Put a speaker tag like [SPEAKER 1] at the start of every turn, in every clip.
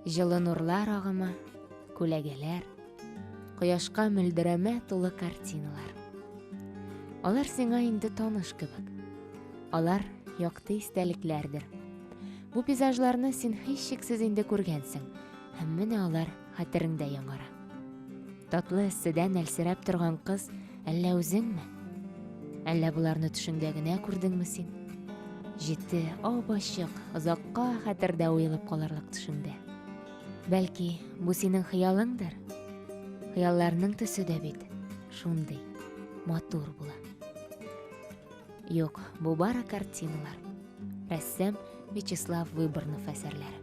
[SPEAKER 1] Җылы нурлар агымы, күләгәләр, кояшка мөлдерәмә тулы картиналар. Алар сиңа инде таныш кебек. Алар якты истәлекләрдер. Бу пейзажларны син һичшиксез инде күргәнсең, һәм менә алар хәтереңдә яңара. Татлы эсседән әлсерәп торган кыз әллә үзеңме? Әллә боларны төшеңдә генә күрдеңме син? Җитте, ап-ачык, озакка хәтердә уелып калырлык төшеңдә. Бәлки, бу синең хыялыңдыр? Хыялларның төсе дә бит шундый матур була. Юк, бу бары картиналар. Рәссам Вячеслав Выборнов әсәрләре.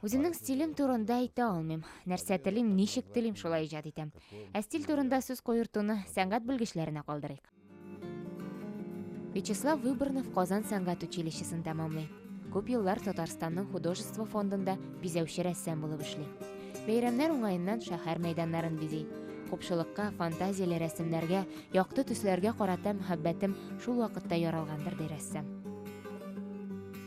[SPEAKER 1] Үземнең стилем турында әйтә алмыйм. Нәрсә телим, ничек телим, шулай иҗат итәм. Ә стиль турында сүз куертуны сәнгать белгечләренә калдырыйк. Вячеслав Выборнов Казан сәнгать училищесын тәмамлый. Күп еллар Татарстанның художество фондында бизәүче рәссам булып эшли. Бәйрәмнәр уңаеннан шәһәр мәйданнарын бизи. Купшылыкка, фантазияле рәсемнәргә, якты төсләргә карата мәхәббәтем шул вакытта яралгандыр, ди рәссам.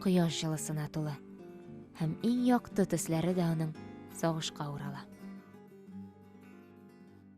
[SPEAKER 1] кояш җылысына тулы һәм иң якты төсләре дә аның сагышка урала.